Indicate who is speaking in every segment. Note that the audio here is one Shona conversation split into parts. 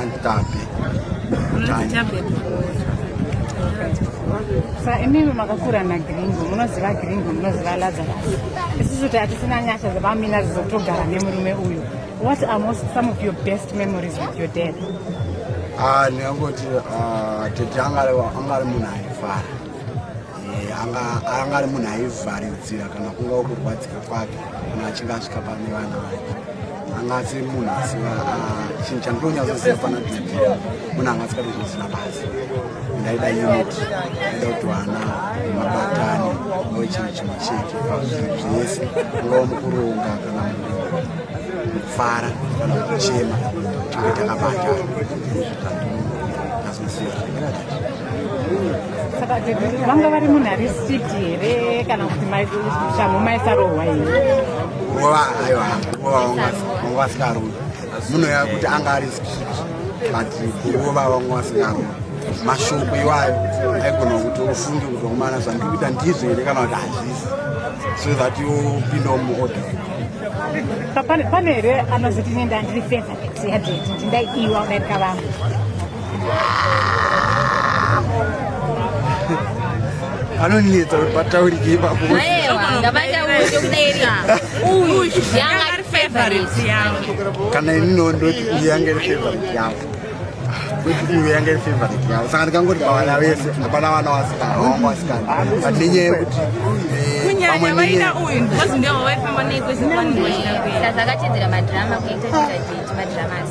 Speaker 1: Antape. Antape. Sa imimi makakura na gringo munoziva gringo munoziva lazarus isusu tatisina nyasha dzepamina dzizotogara nemurume uyu what are most some of your best memories with your dad ah, ndingangoti ah, tete angari munhu aifara Eh, anga anga ari munhu aivharidzira kana kunga kurwadzika kwake kana achinge asvika pane vana vake anga asi munhu asi ah, chinhu chandinonyatsoziva pana didi munhu anga asikatozivisina basi ndaida unit ndaida kuti vana mabatane ave chinhu chimwe chete pazvinhu zvese ungava mukuronga kana mukufara kana kuchema tinge takabatana saka vanga vari munhu ari street here kana kuti shamhu maisarohwa here nguva aiwa nguva vanga vasingarohwa munhu ya kuti anga ari street but nguva vanga vasingarohwa mashoko iwayo aigona kuti ufunge kuti wakumana zvandiri kuita ndizvo here kana kuti hazvisi so that yopindawo muorder pane here anozoti nenda ndiri feza yadeti ndindaiiwa udairika vangu anonetsa kuti pataurike ipapo kana ini nondoti uyu yanga iri favorite yangu kuti uyu yanga iri favorite yangu saka ndikangoti pavana vese hapana vana wasikana vanga wasikana but nenyaya yekuti kunyanya vaida uyu because ndiwo vaifamba nekwezivakachedzera madrama kuita zvakachiti madramas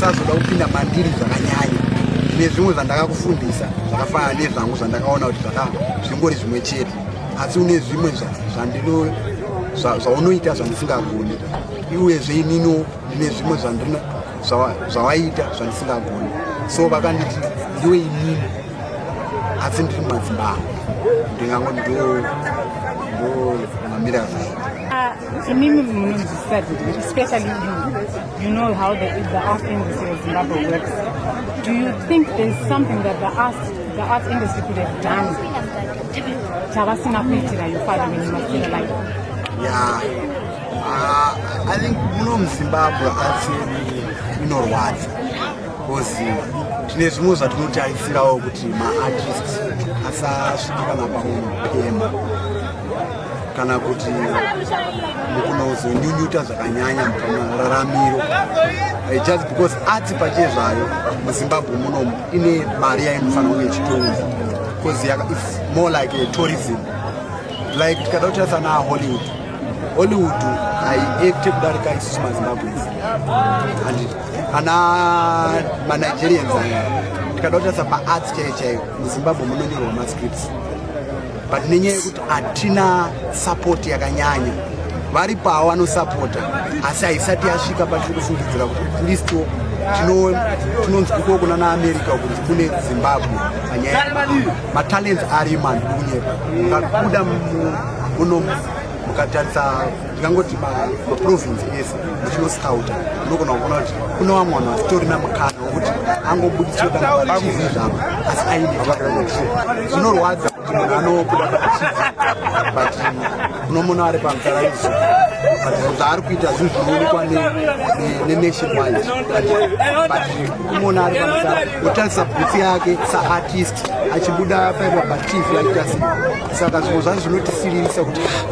Speaker 1: sazoda kupinda mandiri zvakanyanya nezvimwe zvandakakufundisa zvakafanana nezvangu zvandakaona kuti zvingori zvimwe chete asi une zvimwe zvaunoita zvandisingagoni iwezve inino ndine zvimwe zvawaita zvandisingagoni so vakanditi ndiwe inini asi ndiri mumadzimba angu ndingango ndo mamira zvaita Imimi munonzwisisa kuti especially you, you know how the, the art industry of Zimbabwe works. Do you think there's something that the art, the art industry could have done? Chavasina kuitira your father when you were still alive. Yeah. Uh, I think muno muZimbabwe asi inorwadza because tine zvimwe zvatinotarisirawo kuti maartists asasvika kana pamwe mupema kana kuti mukunozonyunyuta zvakanyanya pamararamiro eh, just because arts pache zvayo muzimbabwe munomu ine mari yainofanira kunge ichitonga because its more like a tourism like tikada kutarisa na hollywood hollywood haiekte kudarika isusu mazimbabwes and ana manigerians aya tikada kutarisa paarts chaiyo chaiyo muzimbabwe munonyorwa mascripts but nenyaya yekuti hatina support yakanyanya vari pawo vanosapota asi haisati yasvika patiri kufungidzira kuti atlisto tinonzi kuko kuna naamerica kuti kune zimbabwe panyaya matalents ari mandukunyepa ngakuda muno mukatarisa ndingangoti maprovince ese muchinoscouta unogona kuona kuti kune vamwe vanhu vasitorina mukana wekuti angobudisweakuzivi zvavo asi aine zvinorwadza kuti munhu anobuda paachizi but unomona ari pamutara izvo but zvaari kuita zvinhu zvinoonekwa nenation wide but kumona ari pamutara otarisa bhutsi yake saartist achibuda paipa pativi aita sei saka zvimwe zvacho zvinotisiririsa kuti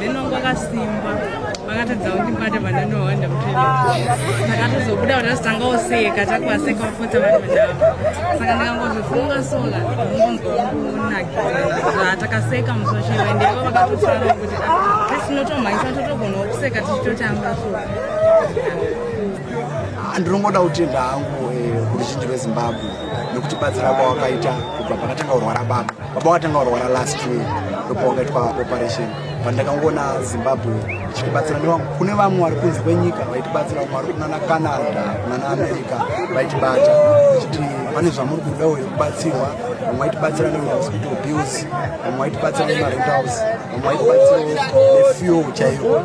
Speaker 1: then wangu akasimba vakatadza kuti mbada vanani wawanda mutendakatozobuda kuti azotanga oseka takuaseka vapotsa vari vandava saka ndikangozvifunga sola ngonzwaunakizaa takaseka musosheva ende ivo vakatosara kuti tinotomhanyisa totogona kuseka tichitotamba so ndinongoda kutenda hangu eh, kuruzhinji rwezimbabwe nekuti batsira kwawakaita kubva pakatanga kurwara baba baba watanga warwara last year ndopa wakaitwa operation but ndakangoona zimbabwe ichitibatsira nevangu kune vamwe vari kunze kwenyika vaitibatsira vamwe vari kunana canada kunana america vaitibata ichiti pane zvamuri kuda uyo kubatsirwa vamwe vaitibatsira nehospital bills vamwe vaitibatsira nemarentalls vamwe vaitibatsira nefuel chaiyo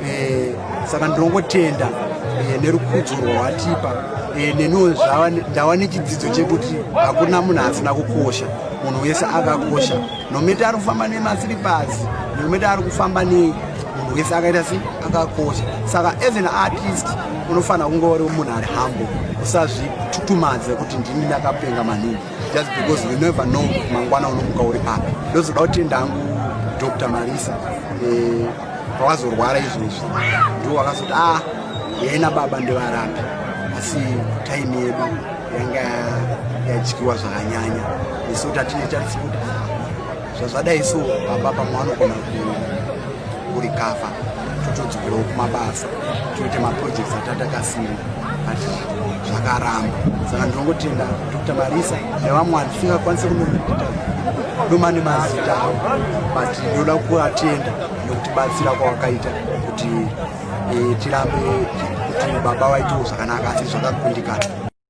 Speaker 1: eh, saka ndinongotenda eh, nerukudzo rwawatipa eh, neniwo ndava nechidzidzo chekuti hakuna munhu asina kukosha munhu wese akakosha nomete ari kufamba nemasiripasi nomete ari kufamba nei munhu wese akaita se akakosha saka as an artist unofanira kunge uri munhu ari hambo usazvitutumadze kuti ndini ndakapenga maningi just because we never know mangwana unomuka uri papi ndozoda kutenda hangu dr marisa eh, pawazorwara izvozvi ndiwo wakazoti ah yena baba ndevarambi asi taimi yedu yanga yadyiwa zvakanyanya isu tatine tarisikuti zvazvadai so baba pamwe vanogona kurikafa totodzokerawo kumabasa toite maprojects atatakasina but zvakaramba saka ndinongotenda dr marisa nevamwe vatisingakwanise kunoita doma nemazita avo but ndoda kuvatenda nokutibatsira kwawakaita kuti eh, tirambe kuti baba vaitewo zvakanaka asi zvakakundikana